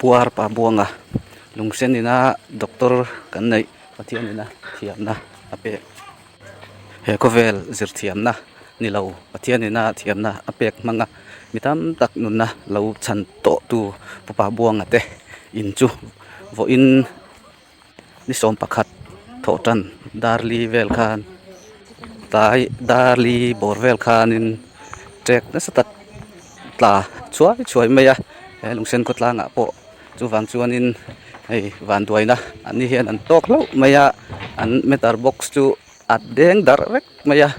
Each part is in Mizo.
puar pa buanga lung sen in a doctor kan neih pathian in a thiam na a pek he ka vel zir thiam na ni lo pathian in a thiam na a pek hmang a mi tam tak nun na lo chhan tawh tu pa pa buanga te in chu vawiin-- ni sawm pakhat thawh tan dar li vel khan tlai dar li bawr vel khan in chek nasa tak tla chhuai chhuai mai a he lungsen khaw tlang ah pawh chuvang chuan in hei vanduai na an ni hian an tawk hlauh mai a an meter box chu a deng darh vek mai a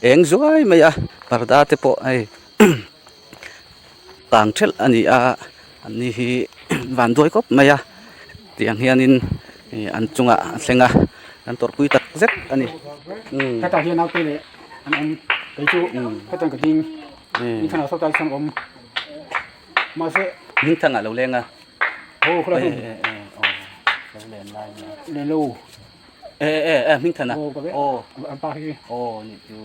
eng zuai mai a parda te pawh hei umm-- tlang ṭhelh a ni a an ni hi van duai khawp mai a tiang hianin ihh an chungah a thleng a an tawrhpui tak zet a ni umm hetah hian naute leh an awm kei chu umm hetiang ka ding umm hming thangah sawtah hian awm mahse hming thangah lo leng a aw khawlai hi eh eh aw lo len lai a nia len lo. e e e min thana o ka ve o an pa hi o ni chu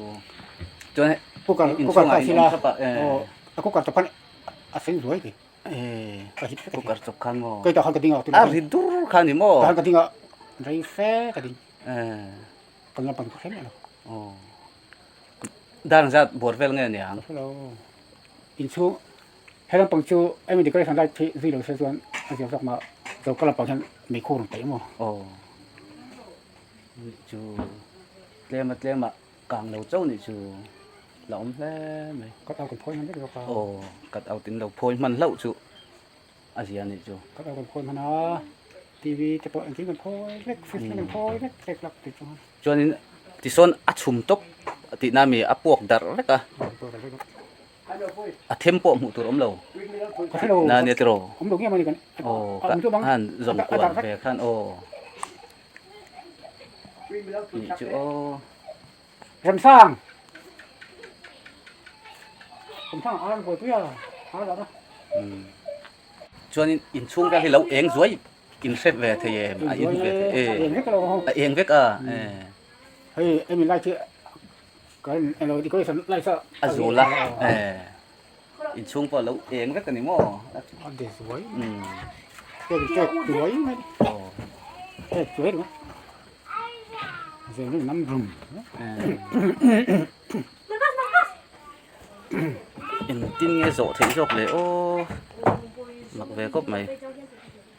chuan kukar kukar ta sila o a kukar ta pan a sen zuai ki e ka hit ka kukar chok khan mo kai ta khan ka dinga a ri dur khan ni mo ka dinga rei fe ka ding e ka ngam pan khen lo o dan zat bor vel nge ni ang hello in chu He lampang chu eng decoration light khi zui lo se chuan a zir zawk mah. Choka lampang hian mei khu a rawn peih maw? Aw. Nih chu tlema tlema kang lo chauh nih chu la awm hle mai. Cut out an phawi hman vek zawk a. Aw, cut out in lo phawi hman hlauh chu a zia nih chu. Cut out an phawi hman a, TV te pawh engtin kan phawi vek, fridge te kan phawi vek vek lak tih chuan. Chuanin tisawn a chhum tawp tihna mi a puak darh vek a. a them pawh hmuh tur awm lo na nia tiraw aw ka han zawm kual ve khan aw nih chu aw remsang remsang a buai pui a a la na chuan in in chhung vel hi lo eng zuai in hre ve thei em a in hre ve thei em a eng vek a hei em in lai chi A zul a in chhung pawh a lo eng vek a ni maw engtin nge zawh theih zawk leh aw mak ve khawp mai.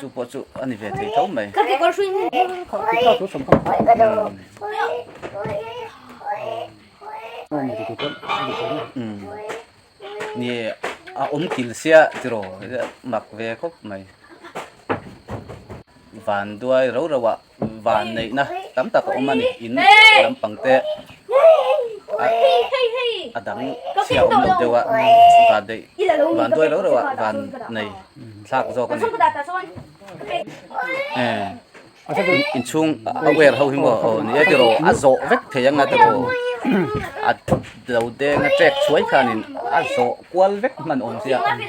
chu pawh chu a ni ve thei tho mai ni a awm kil sia ti rawh mak ve khawp mai vanduai ro ro ah van neihna tam tak a awm a ni in lampang te a dang chhia awm lo deuh a van neih van duai reuh reuh a van nei thlak zawk a ni inchhung a wer ho hi maw aw ni e tiraw a zawh vek thei anga tiraw a lo denga chek chhuai khanin a zawh kual vek hman awm sia ni e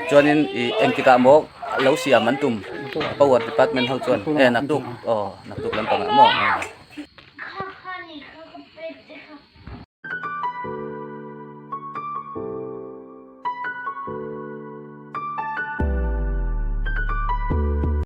chuanin i engtikah maw lo siam an tum power department ho chuan e naktuk aw naktuk lampangah maw